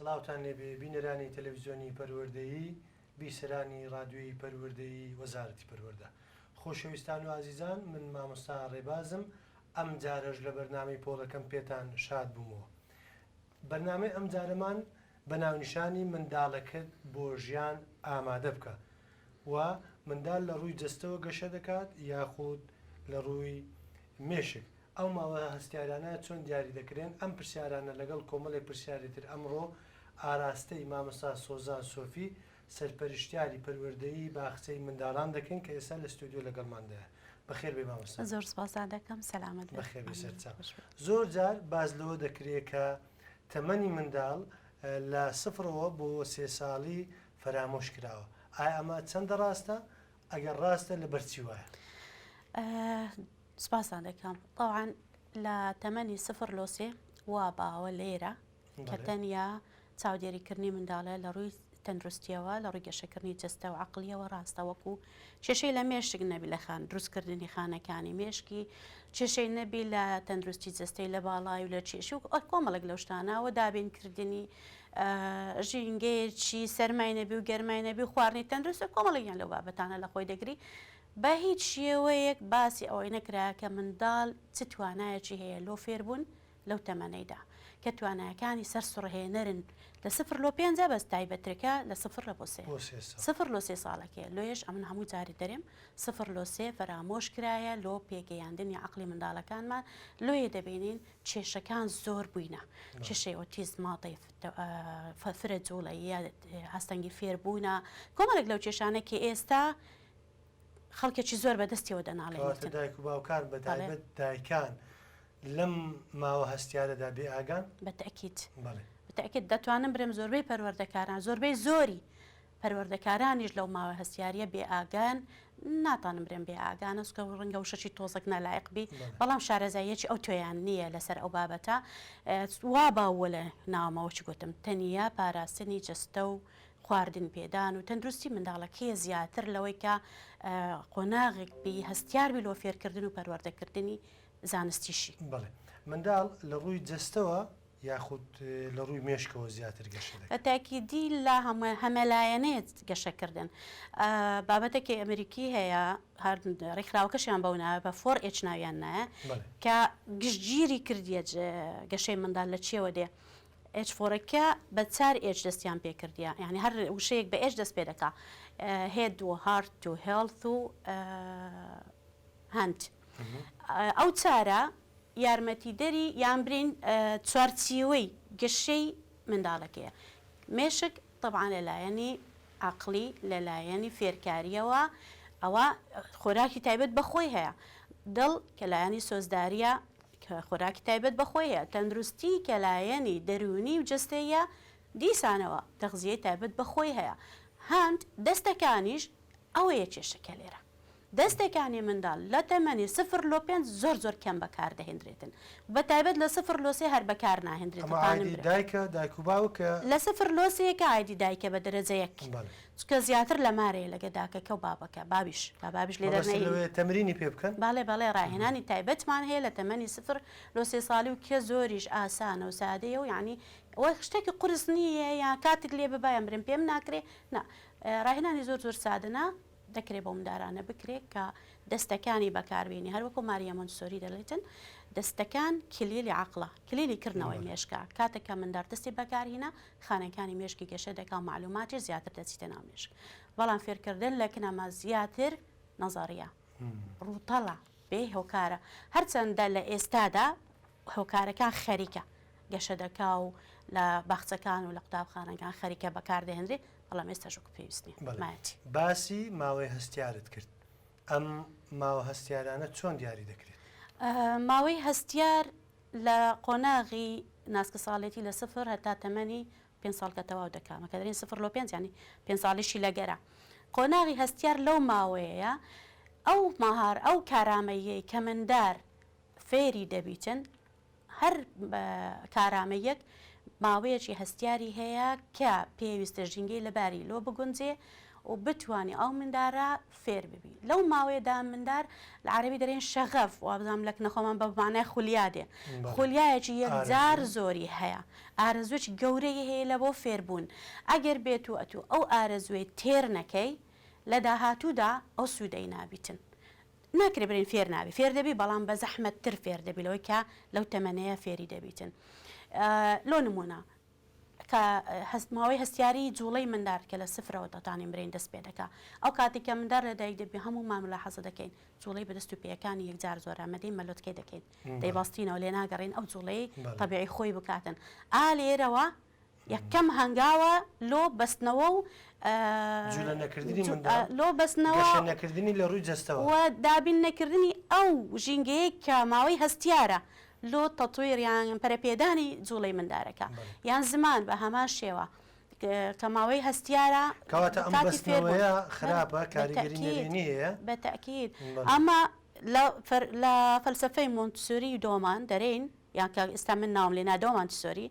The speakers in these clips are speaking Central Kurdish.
سڵاوتان لێبێ بینەرانی تەلەڤزیۆنی پەروەردەیی بیسەرانی ڕادوێی پەروەردەیی وەزارەتی پەروەەردە خۆشەویستان و ئازیزان من مامۆستا ڕێبازم ئەم جارەش لە بەرنامەی پۆڵەکەم پێتان شاد بوومەوە بەرنامەی ئەمجارەمان بە ناونیشانی منداڵەکەت بۆ ژیان ئامادە بکە و منداڵ لە ڕووی جەستەوە گەشە دەکات یاخود لە ڕووی مێشک؟ ئەو ماوە هەستیارانە چۆن دیاری دەکرێن؟ ئەم پرسیارانە لەگەڵ کۆمەڵێک پرسیاری تر ئەمڕۆ ئاراستەی مامۆستا سۆزان سۆفی سەرپەرشتیاری پەروەردەیی باخچەی منداڵان دەکەین کە ئێستا لە ستۆدیۆ لەگەڵماندایە. بەخێربێی مامۆستا. زۆر سوپاس دادەکەم. سەلامەت بن. بەخێربێی سەرچاو. زۆر جار باس لەوە دەکرێ کە تەمەنی منداڵ لە سفرەوە بۆ سێ ساڵی فەرامۆش کراوە. ئایا ئەمە چەندە ڕاستە؟ ئەگەر ڕاستە لەبەر چی وایە؟ سوپاس دادەکەم. تەوعەن لە تەمەنی سفر لۆ سێ وا باوە لێرە کە تەنیا چاودێریکردنی منداڵە لە ڕووی تەندروستییەوە، لە ڕووی گەشەکردنی جەستە و عەقڵییەوە ڕاستە، وەکو کێشەی لە مێشک نەبی لە خان، دروستکردنی خانەکانی مێشکی، کێشەی نەبی لە تەندروستی جەستەی لە باڵای و لە کێشی و کۆمەڵێک لەو شتانە و دابینکردنی ژینگەیەکی سەرمای نەبی و گەرمای نەبی و خواردنی تەندروست و کۆمەڵێکیان لەو بابەتانە لە خۆی دەگری، بە هیچ شێوەیەک باسی ئەوەی نەکرا کە منداڵ چ توانایەکی هەیە لۆ فێربوون لەو تەمەنەیدا کە توانایەکانی سەرسوڕهێنەرن لە سفر لۆ پێنجە بەس تایبەترکە لە سفر لە بۆ سێ سفر لۆ سێ ساڵەکەیە لۆیەش ئەمن هەموو جاری دەرێم سفر لۆ سێ فەرامۆش کرایە لۆ پێگەیاندنی عەقڵی منداڵەکانمان لۆیە دەبینین کێشەکان زۆر بووینە کێشەی ئۆتیزم ماڵی فرە جوڵەییە ئاستەنگی فێربوونە کۆمەڵێک لەو کێشانە کە ئێستا خەڵکێکی زۆر بە دەستیەوە دەناڵێنیتن. کەواتە دایک و باوکان بە تایبەت دایکان لەم ماوە هەستیارەدا بێ ئاگان؟ بە تەئکید. بەڵێ. بە تەئکید دەتوانم برێم زۆربەی پەروەردەکاران زۆربەی زۆری پەروەردەکارانیش لەو ماوە هەستیاریە بێ ئاگان، ناتانم برێم بێ ئاگانە سکە و ڕەنگە وشەکی تۆزەک نالایق بی بەڵام شارەزاییەکی ئەو تۆیان نییە لەسەر ئەو بابەتە وا باووە لە ناوەمەوە چ گوتم تەنیا پاراستنی جەستە و خواردن پێدان و تەندروستی منداڵەکەیە زیاتر لەوەی کە قۆناغێک بی هەستیار بی لۆ فێرکردن و پەروەردەکردنی زانستیشی. بەڵێ منداڵ لە ڕووی جەستەوە یاخود لە ڕووی مێشکەوە زیاتر گەشە دەکات؟ بە تاکیدی لە هەمە هەمەلایەنەیە گەشەکردن بابەتەکی ئەمریکی هەیە هەر ڕیکخراوەکەشیان بەو ناوە بە فۆر ئێچ ناویان نایە کە گشتگیری کردیە گەشەی منداڵ لە چیەوە دێ ئێچ فۆرەکە بە چار ئێچ دەستیان پێ کردیە یانی هەر وشەیەک بە ئێچ دەست پێ دەکا هێد و هارت و هێڵث و هەند ئەو چارە یارمەتیدەری یان برین چوارچیوەی گەشەی منداڵەکەیە مێشک طبعاان لەلایەنی عقلی لەلایەنی فێرکاریەوە ئەوە خۆراکی تایبەت بەخۆی هەیە دڵ کە لایەنی سۆزداریە کە خۆراکی تایبەت بە خۆیە، تەندروستی کە لایەنی دەروونی و جەستەییە، دیسانەوە تەغزیەی تایبەت بە خۆی هەیە. هەند دەستەکانیش ئەوەیە کێشەکە لێرە. دەستەکانی منداڵ لە تەمەنی سفر لۆ پێنج زۆر زۆر کەم بەکار دەهێندرێتن. بە تایبەت لە سفر لۆ سێ هەر بەکار ناهێندرێتن خانم برا. ئەمە ئایدی دایکە، دایک و باوکە؟ لە سفر لۆ سێ کە ئایدی دایکە بە دەرەجە یەک. بەڵێ. چکە زیاتر لە مارێ لەگە داکەکە و بابەکە، بابیش، با بابیش لێ مەبەستت دەرنەهێنی. لەوەیە تەمرینی پێ بکەن؟ بەڵێ بەڵێ ڕاهێنانی تایبەتمان هەیە لە تەمەنی سفر لۆ سێ ساڵی و کە زۆریش ئاسانە و سادەیە و یانی وەک شتەکی قورس نی یە یا کاتک لێ ببا یان برێم پێم ناکرێ نا ڕاهێنانی زۆر زۆر سادە نا دەکرێ بۆ مندارانە بکرێ کە دەستەکانی بەکار بێنی هەر وەکو ماریا مۆنتسۆری دەلێتن دەستەکان کلیلی عەقڵە کلیلی کردنەوەی مێشکە کاتێک کە مندار دەستی بەکار هینا خانەکانی مێشکی گەشە دەکا و مەعلوماتی زیاتر دەچیتە ناو مێشک بەڵام فێرکردن لە کنەما زیاتر نەزەڕیە ڕووتەڵە بێ هۆکارە هەرچەندە لە ئێستادا هۆکارەکان خەریکە گەشە دەکا و لە باخچەکان و لە قوتابخانەکان خەریکە بەکاردەهێنرێ بەڵام ئێستا ژوک پێویستنی باسی ماوەی هەستیارت کرد ئەم ماوە هەستیارانە چۆن دیاری دەکرێت؟ ماوەی هەستیار لە قۆناغی ناسکساڵێتی لە سفر هەتا تەمەنی پێنج ساڵ کە تەواو دەکا مە کە دەرێن سفر لۆ پێنج یانی پێنج ساڵیشی لەگەرە قۆناغی هەستیار لەو ماوەیەیە ئەو مەهار ئەو کارامەییەی کە مندار فێری دەبیتن هەر کارامەییەک ماوەیەکی هەستیاری هەیە کە پێویستە ژینگەی لەباری لۆ بگونجێ و بتوانێ ئەو مندارە فێر ببی لەو ماوەیەدا مندار لە عەرەبی دەرێن شەغەف وابزانم لەکنە خۆمان بە مانای خولیا دێ خولیایەکی یەکجار زۆری هەیە ئارەزوێکی گەورەی هەیە لە بۆ فێربوون ئەگەر بێت و ئەتوو ئەو ئارەزوێی تێر نەکەی لە داهاتوودا ئەو سوودەی نابیتن ناکرێ بلێن فێر نابی فێر دەبی بەڵام بە زەحمەت تر فێر دەبی لەوەی کە لەو تەمەنەیە فێری دەبیتن لۆ نمونە کە هەست ماوەی هەستیاری جوڵەی مندار کە لە سفرەوە تەتانی مرین دەست پێ دەکا ئەو کاتی کە مندار لە دایک دەبی هەموو مان ملا حەزە دەکەین جوڵەی بەدەست و پێیەکانی یەکجار زۆر ئامەدەی مەلۆتکەی دەکەین دەیباستینەوە لێ ناگەڕین ئەو جوڵەی تەبیعی خۆی بکاتن ئا لێرەوە یەکەم هەنگاوە لۆ بەستنەوە و جولە نەکردنی منداڵ، لۆ بەستنەوە، گەشە نەکردنی لە رووی جەستەوە. و دابین نەکردنی ئەو ژینگەیەی کە ماوەی هەستیارە لۆ تەتویر یان پەرەپێدانی جوڵەی مندارەکە. یان زمان بە هەمان شێوە کە ماوەی هەستیارە کەواتە ئەم کاتی فێر بوون. بەستنەوەیە خراپە کاریگەری نەرێنی هەیە. بە تەئکید. بەڵێ. ئەمە لە لە فەلسەفەی مۆنتسۆری و دۆمان دەرێین. یان کە ئیستا من ناوم لێ نادەوە مانتسۆری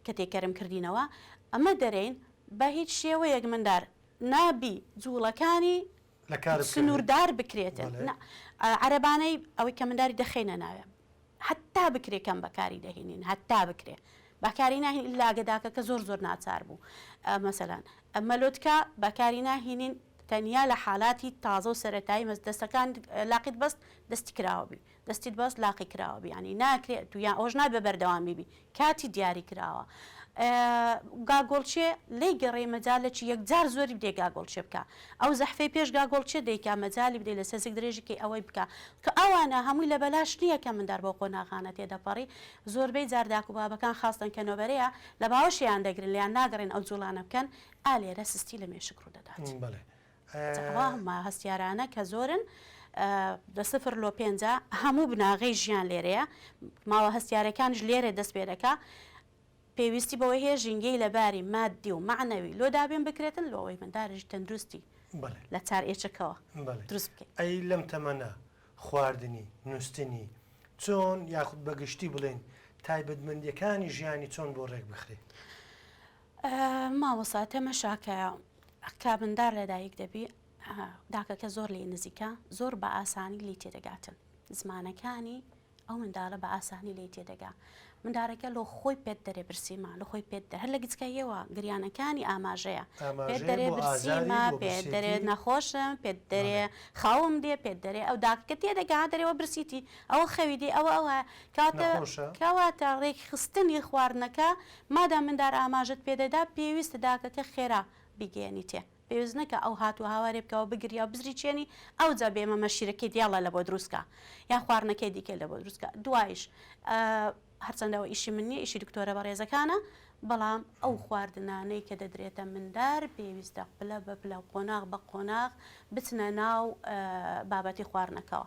کە تێکەرم کردینەوە ئەمە دەرێین بە هیچ شێوەیەک مندار نابی جوڵەکانی لە کار بکەوێت سنووردار بکرێتن بەڵێ. نا ئا عەرەبانەی ئەوەی کە منداری دەخەینە ناوێ هەتا بکرێ کەم بەکاری دەهینین هەتا بکرێ بەکاری ناهین ئیلا گە داکەکە زۆر زۆر ناچار بوو ئە مەسەلەن ئە مەلۆتکە بەکاری ناهینین تەنیا لە حالاتی تازە و سەرەتایی مەس دەستەکانت لاقیت بەست دەستی کراوە بی دەستیت باز لاقی کراوە بیانی ناکرێ ئەتوو یان ئەوەش نابێ بەردەوامی بی کاتی دیاری کراوە گاگۆڵچێ لێی گەڕێ مەجالە چی یەکجار زۆری بدێ گاگۆڵچێ بکە ئەو زەحفەی پێش گاگۆڵچێ دەیکا مەجالی بدەی لە سەزیک درێژی کەی ئەوەی بکە کە ئەوانە هەمووی لە بەلاش نییە کە مندار بەو قۆناغانە تێ دەپەڕی زۆربەی جار داک و بابەکان خاستەن کە نۆبەرەیە لە باوەشیان دەگرن لێیان ناگەڕێن ئەو جووڵانە بکەن ئا لێرە سستی لە مێشک ڕوو دەدات. بەڵێ تەقوا هەمە هەستیارانە کە زۆرن لە سفر لۆ پێنجا هەموو بناغەی ژیان لێرەیە ماوە هەستیارەکانش لێرێ دەست پێ دەکا پێویستی بەوەی هەیە ژینگەی لە باری مادی و معنەوی لۆ دابێن بکرێتن لۆەوەی منداریش تەندروستی لە چار ئێچەکەوە دروست بکەین ئەی لەم تەمەنە خواردنی نوستنی چۆن یاخود بە گشتی بڵێن تایبەتمەندیەکانی ژیانی چۆن بۆ ڕێک بخرێ؟ مامۆسا تەمەشاکەیە کابندار لەدایک دەبی داکەکە زۆر لی نزیکە زۆر بە ئاسانی لی تێدەگاتن زمانەکانی ئەو منداڵە بە ئاسانی لی تێدەگا مندارەکە لۆ خۆی پێت دەرێ برسیما لە خۆی پێت هەر لە گچکەیەوە گریانەکانی ئاماژەیە پێت دەرێ برسیما پێ دەرێ نەخۆشم پێت دەرێ خاوم دێ پێت دەرێ ئەو داکە تێدەگا دەرەوە برسیتی ئەوە خەوی دی ئەوە ئەوە کاتە کەواتە ڕێکخستنی خواردنەکە مادام مندار ئاماژەت پێ دەدا پێویستە داکەکە خێرا بیگەیەنیتێ پێویست نەکا ئەو هات و هاوارێ بکا و بگریا و بزریچێنی ئەوجا بێ مەمە شیرەکەی دیالا لە بۆ دروست کا یان خواردنەکەی دیکەی لە بۆ دروست کا دوایش هەرچەندە ئەوە ئیشی من نیە ئیشی دکتۆرە بەڕێزەکانە بەڵام ئەو خواردنانەی کە دەدرێتە مندار پێویستە پلە بە پلە قۆناغ بە قۆناغ بچنە ناو بابەتی خواردنەکەوە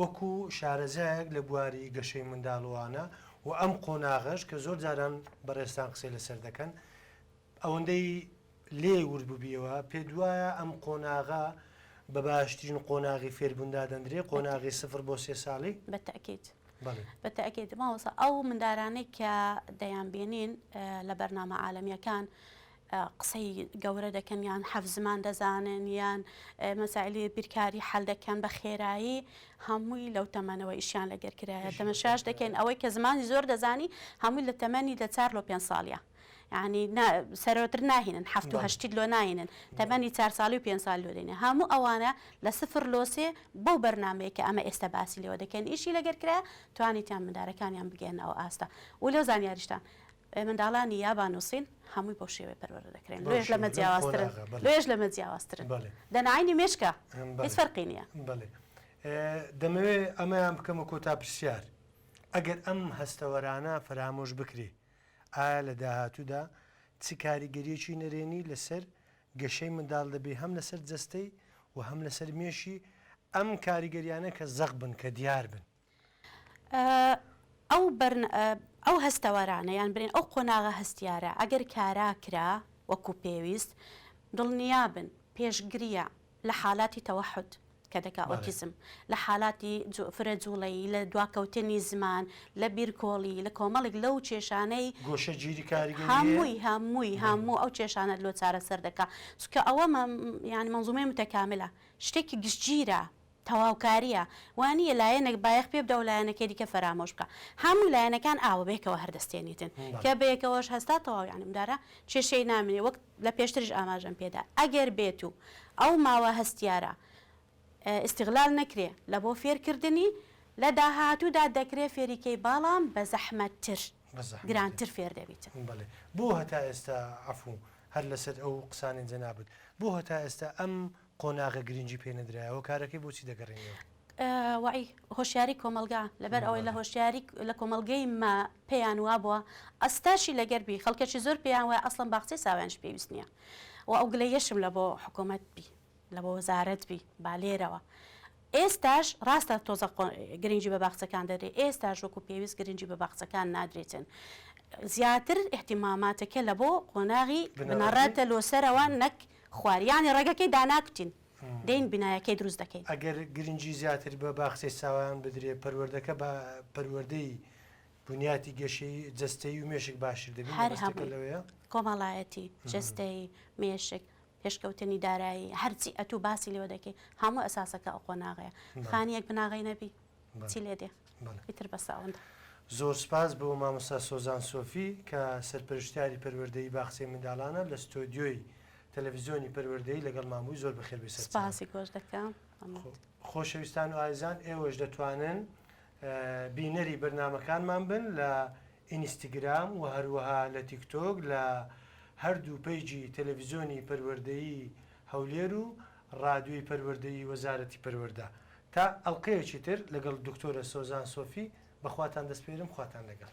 وەکو شارەزایەک لە بواری گەشەی منداڵوانە و ئەم قۆناغەش کە زۆر جاران بەڕێزتان قسەی لەسەر دەکەن ئەوەندەی لێ ورد ببیەوە پێت وایە ئەم قۆناغە بە باشترین قۆناغی فێربوون دادەندرێ قۆناغی سفر بۆ سێ ساڵی؟ بە تەئکید بەڵێ. بە تەئکید مامۆستا ئەو مندارانەی کە دەیانبینین لە بەرنامە عالەمیەکان قسەی گەورە دەکەن یان حەفت زمان دەزانن یان مەسایلی بیرکاری حەل دەکەن بە خێرایی هەمووی لەو تەمەنەوە ئیشیان لەگەر کرایە تەمەشاش دەکەین ئەوەی کە زمانی زۆر دەزانی هەمووی لە تەمەنی لە چار لۆ پێنج ساڵە یعنی سەرۆتر ناهێنن هەفت و هەشتیت لۆ ناهێنن تەمەنی چار ساڵی و پێنج سال لۆ دێنێ هەموو ئەوانە لە سفر لۆ سێ بەو بەرنمەیە کە ئەمە ئێستا باسی لێوە دەکەین ئیشی لەگەر کرایە توانیتیان مندارەکانیان بگەێنەوە ئاستا و لەو زانیاریشتان منداڵانی یابان و سین هەمووی بەو شێوەیە پەروەردە دەکرێن، لۆیەش لەمە جیاوازترن، لۆیەش لەمە جیاوازترن، دەناینی مێشکە هیچ فەرقی نییە. بەڵێ دەمەوێت ئەمەیان بکەمە کۆتا پرسیار، ئەگەر ئەم هەستەوەرانە فەرامۆش بکرێ، ئایا لە داهاتوودا چ کاریگەرییەکی نەرێنی لەسەر گەشەی منداڵ دەبێ هەم لەسەر جەستەی و هەم لەسەر مێشی، ئەم کاریگەرییانە کە زەق بن، کە دیار بن؟ ئەو هەستەوەرانە یان برێن ئەو قۆناغە هەستیارە ئەگەر کارا کرا وەکو پێویست دڵنیابن پێشگریە لە حالاتی تەوەحود کە دەکا ئۆتیزم لە حالاتی فرە جوڵەیی لە دواکەوتنی زمان لە بیرکۆڵی لە کۆمەڵێک لەو کێشانەی گۆشەگیری کاریگەری هەیە هەمووی هەمووی هەموو ئەو کێشانە لۆ چارەسەر دەکا چونکە ئەوە یان مەنزومەی متەکاملە شتێکی گشتگیرە تەواوکاریە وانیە لایەنەک بایەخ پێ بدا و لایەنەکەی دیکە فەرامۆش بکا هەموو لایەنەکان ئاوە بەیەکەوە هەر دەستێنیتن کە بەیەکەوەش هەستا تەواو یانی ئەمجارە کێشەی نامێنێ وەک لە پێشتریش ئاماژەم پێدا ئەگەر بێت و ئەو ماوە هەستیارە ئیستیغلال نەکرێ لە بۆ فێرکردنی لە داهاتوودا دەکرێ فێری کەی باڵام بە زەحمەت تر گرانتر فێر دەبیتن. بەڵێ بۆ هەتا ئێستا عەفوو هەر لەسەر ئەو قسانەی جەنابت بۆ هەتا ئێستا ئەم قۆناغە گرنگی پێ نەدرایەوە کارەکەی بۆچی دەگەڕێنیەوە؟ وەعی هۆشیاری کۆمەڵگا لەبەر ئەوەی لە هۆشیاری لە کۆمەڵگەی ما پێیان وابووە ئەستاشی لەگەر بی خەڵکەکی زۆر پێیان وایە ئەسڵەن باخچەی ساوایانش پێویست نییە و ئەو گلەیەشم لە بۆ حکوومەت بی لە بۆ وەزارەت بی با لێرەوە ئێستاش ڕاستە تۆزە گرنگی بە باخچەکان دەدرێت ئێستاش وەکو پێویست گرنگی بە باخچەکان نادرێتن زیاتر احتیماماتەکە لە بۆ قۆناغی بنەڕەتە لۆسەرەوە نەک خوار یانی ڕێگەکەی داناکوتین دێین بینایەکەی دروست دەکەین. ئەگەر گرنگی زیاتر بە باخچەی ساوایان بدرێ، پەروەردەکە بە پەروەردەی بنیاتی گەشەی جەستەیی و مێشک باشتر دەبین، هەر هەمووی کۆمەڵایەتی، جەستەیی، مێشک، پێشکەوتنی دارایی، هەرچی ئەتوو باسی لێوە دەکەی هەموو ئەساسەکە ئەو قۆناغەیە، خانیەک بناغەی نەبی. چی لێ دێ ئیتر بەسە ئەوەندە. زۆر سپاس بۆ مامۆستا سۆزان سۆفی کە سەرپەرشتیاری پەروەردەیی باخچەی منداڵانە لە ستۆدیۆی تەلەڤیزیۆنی پەروەردەیی لەگەڵمان بووی زۆر بەخێر بێی سەرچاوەکەت. سپاسی تۆش دەکەم. خۆشەویستان و ئازیزان ئێوەش دەتوانن بینەری بەرنامەکانمان بن لە ئینستگرام و هەروەها لە تیکتۆک لە هەردوو پەیجی تەلەڤیزیۆنی پەروەردەیی هەولێر و ڕادیۆی پەروەردەی وەزارەتی پەروەردە تا ئەڵقەیەکی تر لەگەڵ دکتۆرە سۆزان سۆفی بەخواتان دەسپێرم خواتان لەگەڵ.